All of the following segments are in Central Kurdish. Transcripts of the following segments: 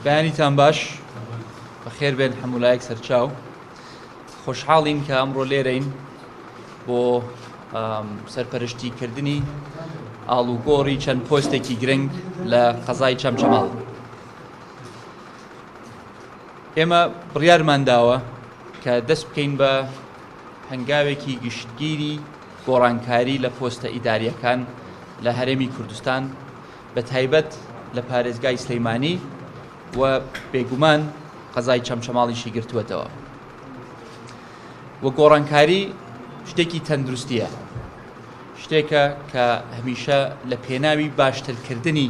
بەیانیتان باش بەخێر بێن حەمولایەک سەرچاو خۆشحاڵین کە ئەمڕۆ لێرەین بۆ سەرپەرشتی کردنی ئاڵوگۆڕی چەند پۆستێکی گرنگ لە قەزای چەمچەماڵ ئێمە بڕیارمان داوە کە دەست بکەین بە هەنگاوێکی گشتگیری گۆڕانکاری لە پۆستە ئیداریەکان لە هەرێمی کوردستان بە تایبەت لە پارێزگای سلێمانی و بێگومان قەزای چەمچەماڵیشی گرتووەتەوە و گۆڕانکاری شتێکی تەندروستیە شتێکە کە هەمیشە لە پێناوی باشترکردنی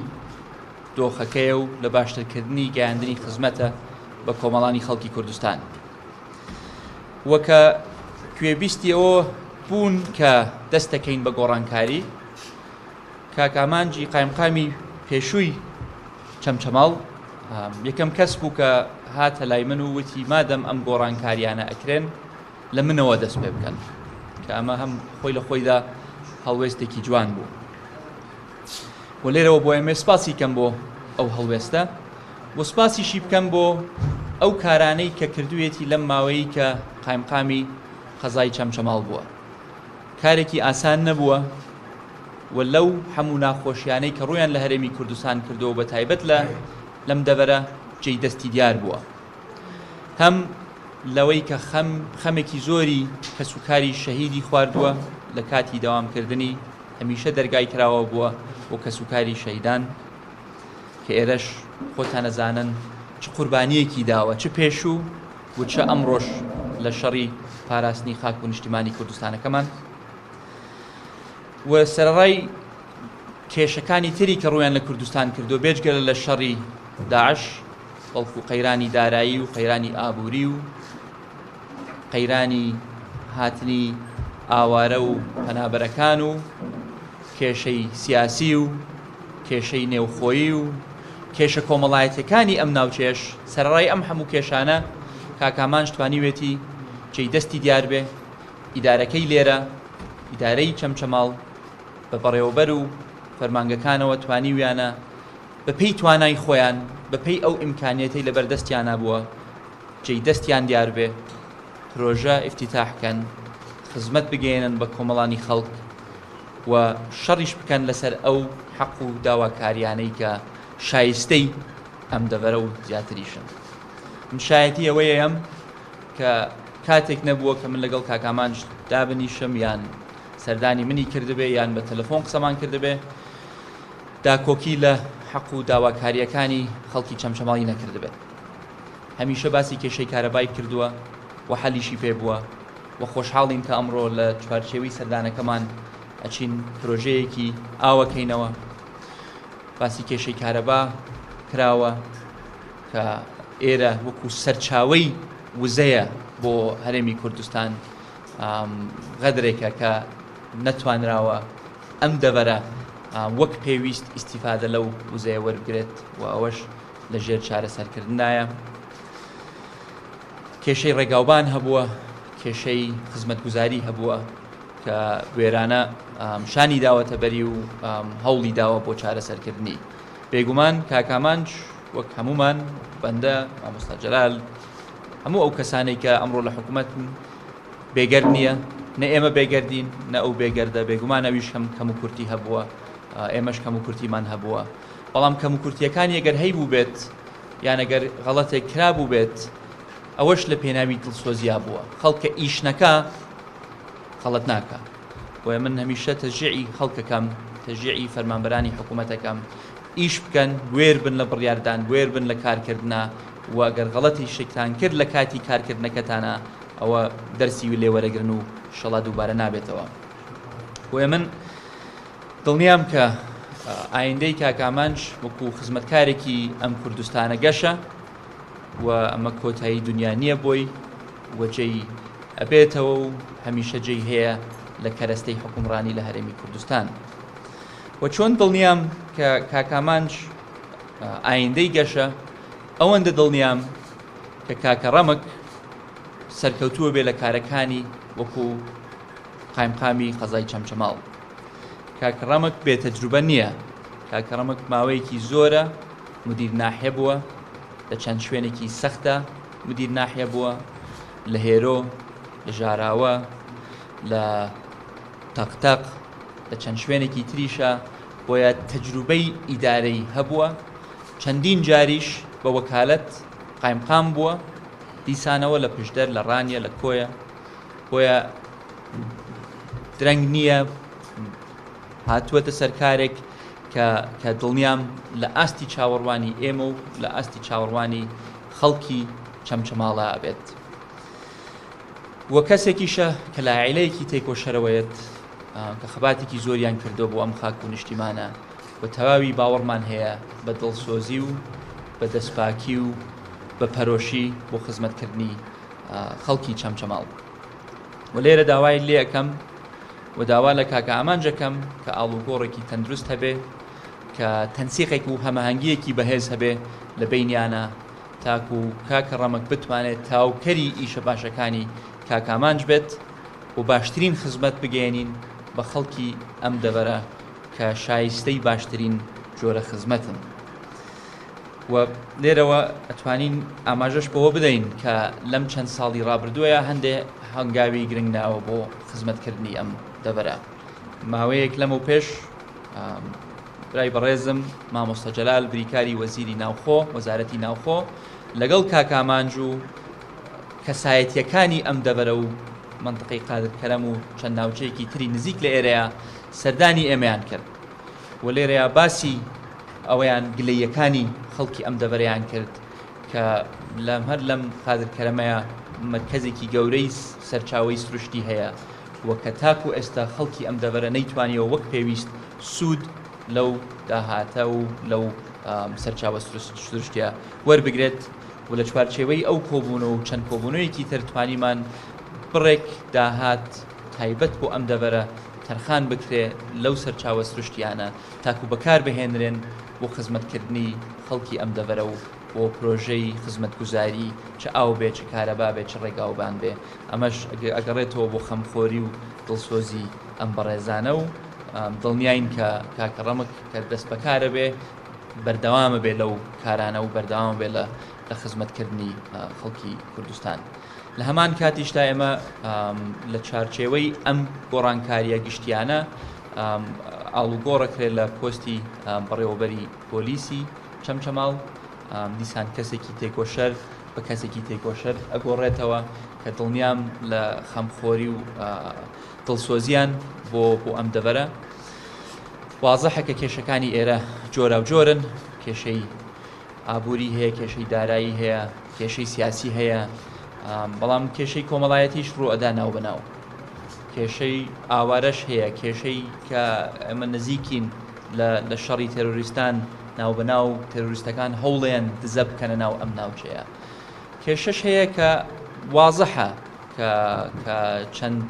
دۆخەکەیە و لە باشترکردنی گەیاندنی خزمەتە بە کۆمەڵانی خەڵکی کوردستان وەکە کوێبیستی ئەوە بوون کە دەستەکەین بە گۆڕانکاری کاک ئامانجی قایمقامی پێشووی چەمچەماڵ یەکەم کەس بوو کە هاتە لای من و وتی مادەم ئەم گۆڕانکاریانە ئەکرێن لە منەوە دەست پێ بکەن کە ئەمە هەم خۆی لە خۆیدا هەڵوێستێکی جوان بوو و لێرەوە بۆ ئەمێ سپاسی کەم بۆ ئەو هەڵوێستە و سپاسیشی بکەم بۆ ئەو کارانەی کە کردوێتی لەم ماوەیە قایمقامی قەزای چەمچەماڵ بووە کارێکی ئاسان نەبووە و لەو هەموو ناخۆشیانەی کە ڕوویان لە هەرێمی کوردستان کردووە و بە تایبەت لە لەم دەڤەرە جێی دەستی دیار بووە هەم لەوەی کە خەم خەمێکی زۆری کەسوکاری شەهیدی خواردووە لە کاتی دەوامکردنی هەمیشە دەرگای کراوە بووە و کەسوکاری شەهیدان کە ئێرەش خۆتانەزانن چ قوربانیەکی داوە چ پێشوو وتشە ئەمڕۆش لە شەڕی پاراستنی خاک و نیشتیمانی کوردستانەکەمان و سەرڕای کێشەکانی تری کە ڕویان لە کوردستان کردو بێجگەلە لە شەڕی داعش بەڵکو قەیرانی دارایی و قەیرانی ئابووری و قەیرانی هاتنی ئاوارە و پەنابەرەکان و کێشەی سیاسی و کێشەی نێوخۆیی و کێشە کۆمەڵایەتیەکانی ئەم ناوچەیەش سەرەڕای ئەم هەموو کێشانە کاکامانش توانیوێتی جێی دەستی دیار بێ ئیدارەکەی لێرە ئیدارەی چەمچەماڵ بە بەڕێوەبەر و فەرمانگەکانەوە توانیویانە بە پێی توانای خۆیان بە پێی ئەو ئیمکانیەتەی لەبەر دەستیانە بووە جێی دەستیان دیار بێ پرۆژە ئیفتیتاحکەن خزمەت بگەێنن بە کۆمەڵانی خەڵک و شەڕیش بکەن لەسەر ئەو حەق و داواکاریانەی کە شایستەی ئەم دەڤەرە و زیاتریشن. من شایەتی ئەوەیەم کە کاتێک نەبووە کە من لەگەڵ کاک ئامانج دابنیشم یان سەردانی منی کردبێ یان بە تەلەفۆن قسەمان کردبێ داکۆکی لە حەق و داواکارییەکانی خەڵکی چەمچەماڵی نەکردبێت. هەمیشە باسی کێشەی کارەبای کردووە و حەلیشی پێ بووە. و خۆشحاڵین کە ئەمڕۆ لە چوارچێوەی سەردانەکەمان ئەچین پرۆژەیەکی ئاو ئەکەینەوە باسی کێشەی کارەبا کراوە کە ئێرە وەکو سەرچاوەی وزەیە بۆ هەرێمی کوردستان غەدرێکە کە نەتوانراوە ئەم دەڤەرە وەک پێویست ئیسیفادە لەو وزەیە وەربگرێت و ئەوەش لە ژێر چارەسەرکردندایە. کێشەی ڕێگاوبان هەبووە، کێشەی خزمەتگوزاری هەبووە کە بوێرانە شانی داوەتە بەری و هەوڵی داوە بۆ چارەسەرکردنی. بێگومان کاک ئامانج وەک هەموومان، وەک بەندە، مامۆستا جەلال، هەموو ئەو کەسانەی کە ئەمڕۆ لە حکومەتن بێگەرد نییە، نە ئێمە بێگەردین، نە ئەو بێگەردە، بێگومان ئەویش هەم کەموکورتی هەبووە، ئێمەش کەموکورتیمان هەبووە، بەڵام کەموکورتییەکانی ئەگەر هەیبووبێت، یان ئەگەر غەڵەتێک کرابووبێت ئەوەش لە پێناوی دڵسۆزیا بووە، خەڵک کە ئیش نەکا غەڵەت ناکا، بۆیە من هەمیشە تەشجیعی خەڵک ئەکەم، تەشجیعی فەرمانبەرانی حکوومەت ئەکەم ئیش بکەن، بوێر بن لە بڕیاردان، بوێر بن لە کارکردنا و ئەگەر غەڵەتیشتان کرد لە کاتی کارکردنەکەتانا ئەوە دەرسی لێوەرەگرن و شەڵا دووبارە نابێتەوە. بۆیە من. دڵنیام کە ئایندەی کاک ئامانج وەکو خزمەتکارێکی ئەم کوردستانە گەشە و ئەمە کۆتایی دنیا نییە بۆی و جێی ئەبێتەوە و هەمیشە جێی هەیە لە کەرەستەی حکومڕانی لە هەرێمی کوردستان و چۆن دڵنیام کە کاک ئامانج ئایندەی گەشە ئەوەندە دڵنیام کە کاکە ڕەمک سەرکەوتووە بێ لە کارەکانی وەکو قایمقامی قەزای چەمچەماڵ. کاک ڕەمک بێ تەجروبە نییە، کاک ڕەمک ماوەیەکی زۆرە مدیر ناحیە بووە، لە چەند شوێنێکی سەختدا مدیر ناحیە بووە، لە هێرۆ، لە ژاراوە، لە تەق تەق، لە چەند شوێنێکی تریشا، بۆیە تەجروبەی ئیدارەی هەبووە، چەندین جاریش بە وەکالەت قایمقام بووە، دیسانەوە لە پشدەر، لە ڕانیە، لە کۆیە. بۆیە درەنگ نییە هاتووەتە سەرکارێک کە دڵنیام لە ئاستی چاوەڕوانی ئێمە و لە ئاستی چاوەڕوانی خەڵکی چەمچەماڵە ئەبێت وە کەسێکیشە کە لایلەیەکی تێکۆشەرەوەیەت کە خەباتێکی زۆریان کردو بۆ ئەم خاک و نیشتیمانە و تەواوی باوەڕمان هەیە بە دڵسۆزی و بە دەستپاکی و بە پەرۆشی بۆ خزمەتکردنی خەڵکی چەمچەماڵ و لێرە داوای لێ ئەەکەم و داوا لە کاکە ئامانجەکەم کە ئاڵوگۆڕێکی تەندروست هەبێ کە تەنسیقێک و هەمەهەنگیەکی بەهێز هەبێ لە بینیانە تاکو و کاکە ڕەمەک بتوانێت تاوکەری ئیشە باشەکانی کاکامانج بێت و باشترین خزمەت بگەێنین بە خەڵکی ئەم دەبەرە کە شایستەی باشترین جۆرە خزمەتن. و لێرەوە ئەتوانین ئاماژەش بەوە بدەین کە لەم چەند ساڵی ڕابردووە هەندێ هەنگاوی گرنگ ناوە بۆ خزمەتکردنی ئەم دەڤەرە ماوەیەک لەمە پێش برای بەڕێزم مامۆستا جەلال بریکاری وەزیری ناوخۆ وەزارەتی ناوخۆ لەگەڵ کاکامانج و کەسایەتیەکانی ئەم دەبەرە و منطقەی قادرکەرەم و چەند ناوچەیەکی تری نزیک لە ئێرەیە سەردانی ئێمەیان کرد و لێرەیا باسی ئەوەیان گلەییەکانی خەڵکی ئەم دەڤەرەیان کرد کە لەم هەر لەم قادر کەرەمەیە مەرکەزێکی گەورەی سەرچاوەی سروشتی هەیە و کە تاکو ئێستا خەڵکی ئەم دەڤەرە نەیتوانیەوە وەک پێویست سوود لەو داهاتە و لەو سەرچاوە سروشتیە وەربگرێت و لە چوارچێوەی ئەو کۆبوونەوە و چەند کۆبوونەوەیەکی تر توانیمان بڕێک داهات تایبەت بۆ ئەم دەڤەرە تەرخان بکرێ لەو سەرچاوە سروشتییانە تاکوو بەکار بهێنرێن بۆ خزمەتکردنی خەڵکی ئەم دەڤەرە و بۆ پرۆژەی خزمەتگوزاری چ ئاو بێ چ کارەبا بێ چ ڕێگاوبان بێ ئەمەش ئەگەڕێتەوە بۆ خەمخۆری و دڵسۆزی ئەم بەڕێزانە و دڵنیاین کە کاکە ڕەمک کە دەستبەکارە بێ بەردەوامە بێ لەو کارانە و بەردەوامە بێ لە خزمەتکردنی خەڵکی کوردستان. لە هەمان کاتیشدا ئێمە لە چارچێوەی ئەم گۆڕانکاریە گشتیانە ئاڵوگۆڕەکرێت لە پۆستی بەڕێوەبەری پۆلیسی چەمچەماڵ دیسان کەسێکی تێکۆشەر بە کەسێکی تێکۆشەر ئەگۆڕێتەوە کە دڵنیام لە خەمخۆری و دڵسۆزیان بۆ بۆ ئەم دەبەرە وازەحەکە کێشەکانی ئێرە جۆرا و جۆرن کێشەی ئابووری هەیە، کێشەی دارایی هەیە، کێشەی سیاسی هەیە، بەڵام کێشەی کۆمەڵایەتیش ڕوو ئەدا ناو بەناو. کێشەی ئاوارەش هەیە، کێشەی کە ئەمە نزیکین لە شەڕی تێرۆریستان ناو بەناو تێرۆریستەکان هەوڵێن دزە بکەنە ناو ئەم ناوچەیە. کێشەش هەیە کە وازحە کە چەند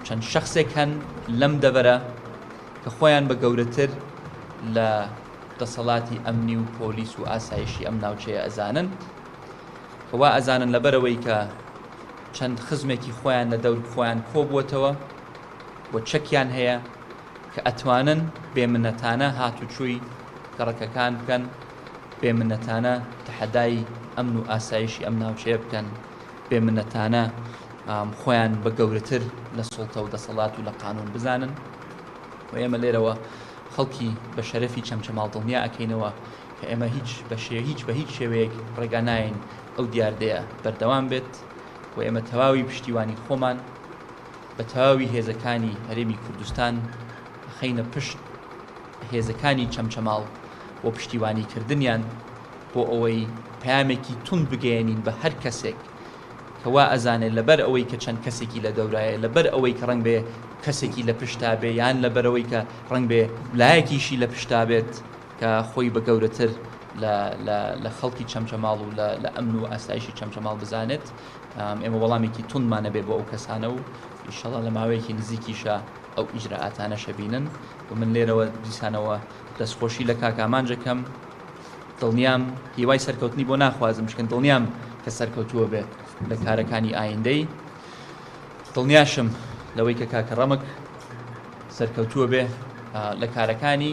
چەند شخصێک هەن لەم دەبەرە کە خۆیان بە گەورەتر لە دەسەڵاتی ئەمنی و پۆلیس و ئاسایشی ئەم ناوچەیە ئەزانن کە وا ئەزانن لەبەرەوەی کە چەند خزمێکی خۆیان لە دەور خۆیان کۆبووەتەوە و چەکیان هەیە کە ئەتوانن بێمنەتانە هاتوچۆی گەڕەکەکان بکەن بێمنەتانە تەحەدای ئەمن و ئاسایشی ئەم ناوچەیە بکەن بێمنەتانە خۆیان بە گەورەتر لە سڵتە و دەسەڵات و لە قانون بزانن و ئێمە لێرەوە خەڵکی بە شەرەفی چەمچەماڵ دڵنیا ئەکەینەوە کە ئێمە هیچ بە شێ هیچ بە هیچ شێوەیەک ڕێگا نایەین ئەو دیاردەیە بەردەوام بێت و ئێمە تەواوی پشتیوانی خۆمان بە تەواوی هێزەکانی هەرێمی کوردستان ئەخەینە پشت هێزەکانی چەمچەماڵ بۆ پشتیوانی کردنیان بۆ ئەوەی پەیامێکی توند بگەیەنین بە هەر کەسێک کە وا ئەزانێ لەبەر ئەوەی کە چەند کەسێکی لە دەورایە، لەبەر ئەوەی کە ڕەنگ بێ کەسێکی لە پشتا بێ، یان لەبەرئەوەی کە ڕەنگ بێ لایەکیشی لە پشتا بێت کە خۆی بە گەورەتر لە لە لە خەڵکی چەمچەماڵ و لە لە ئەمن و ئاسایشی چەمچەماڵ بزانێت. ئێمە وەڵامێکی توندمان ئەبێ بۆ ئەو کەسانە و ئیشەڵا لە ماوەیەکی نزیکیشا ئەو ئیجرائاتانەش ئەبینن و من لێرەوە دیسانەوە دەستخۆشی لە کاک ئامانج ئەکەم، دڵنیام هیوای سەرکەوتنی بۆ ناخوازم چونکە دڵنیام کە سەرکەوتووە بێت لە کارەکانی ئایندەی دڵنیاشم لەوەی کە کاکە ڕەمک سەرکەوتووە بێ لە کارەکانی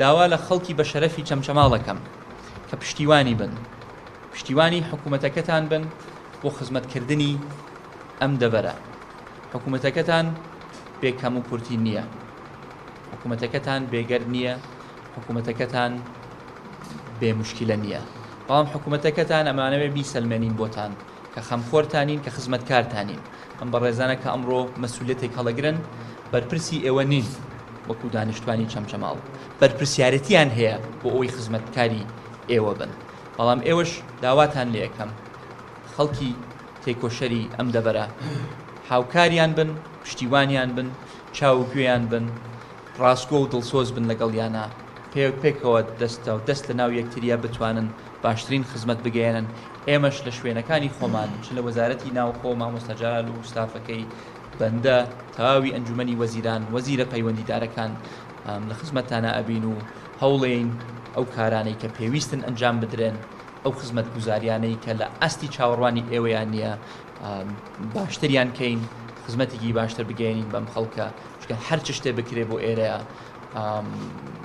داوا لە خەڵکی بە شەرەفی چەمچەماڵەکەم کە پشتیوانی بن پشتیوانی حکوومەتەکەتان بن بۆ خزمەتکردنی ئەم دەبەرە حکوومەتەکەتان بێکەم و کورتی نییە حکوومەتەکەتان بێگەرد نییە حکومەتەکەتان بێ موشکیلە نیە بەڵام حکومەتەکەتان ئەمانەوێ بیسەلمێنین بۆتان کە خەمخۆرتان نین کە خزمەتکارتان نین ئەم بەڕێزانە کە ئەمڕۆ مەسولیەتێک هەڵەگرن بەرپرسی ئێوە نین وەکو دانیشتوانی چەمچەماڵ بەرپرسیارەتیان هەیە بۆ ئەوەی خزمەتکاری ئێوە بن بەڵام ئێوەش داواتان لێ ئەکەم خەڵکی تێکۆشەری ئەم دەڤەرە هاوکاریان بن پشتیوانیان بن چاو و گوێیان بن ڕاستگۆ و دڵسۆز بن لەگەڵیانا پێ پێکەوە دەستە دەست لە ناو یەکتریا بتوانن باشترین خزمەت بگەیەنن ئێمەش لە شوێنەکانی خۆمان چ لە وەزارەتی ناوخۆ مامۆستا جەلال و ستافەکەی بەندە تەواوی ئەنجومەنی وەزیران وەزیرە پەیوەندیدارەکان لە خزمەتتانا ئەبین و هەوڵێین ئەو کارانەی کە پێویستن ئەنجام بدرێن ئەو خزمەتگوزاریانەی کە لە ئاستی چاوەڕوانی ئێوەیان نیە باشتریان کەین خزمەتێکی باشتر بگەێنین بەم خەڵکە چکە هەر چ شتێ بکرێ بۆ ئێرەیە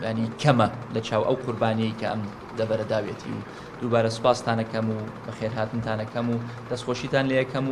ینی کەمە لە چاو ئەو قوربانیی کە ئەم دەبەرەداوێتی و دووبارە سوپاستانەکەم و بەخێرهاتنتانەکەم و دەستخۆشیتان لە یەکەم و